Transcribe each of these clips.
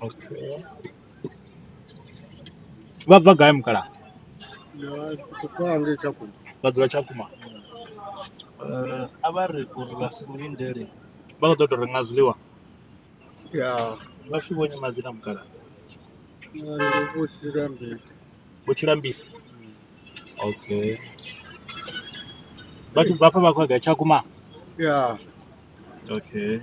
Okay. Vha bva gai mukala? Kupange Tshakhuma. Vha dzula Tshakhuma. Eh, a vha ri uri vha si lindele. Vha khou ḓo tou renga zwiḽiwa. Ya. Vha tshi vhonye madzina mukala. Ndi vho Tshilambisi. Vho Tshilambisi. Okay. Vha tshi bva afha vha khou ya gai Tshakhuma? Ya. Okay.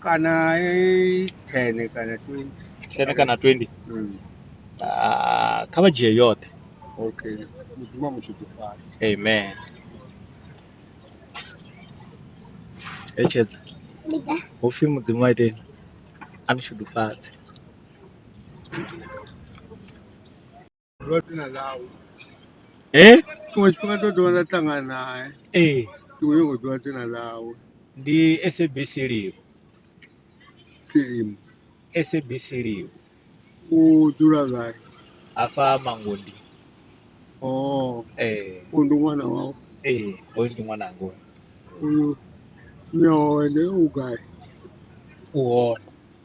kana i 10 kana 20 10 kana 20 mm. uh, kha vha dzhie yoṱhe okay mudzimu amushudufala amen etshedza ho pfi mudzimu a iteni a ni shudufadze Ndo tina ḽau eh tshiṅwe tshifhinga to ḓiwana nda ṱangana nae eh ndi khou nyanga u ḓiwa dzina ḽawe ndi SABC live filimu SABC live u dzula gai hafha mangondi oh eh u ndi ṅwana wau eh hoyu ndi ṅwananga hoyu. uyu mme wawe ndi u gai u hone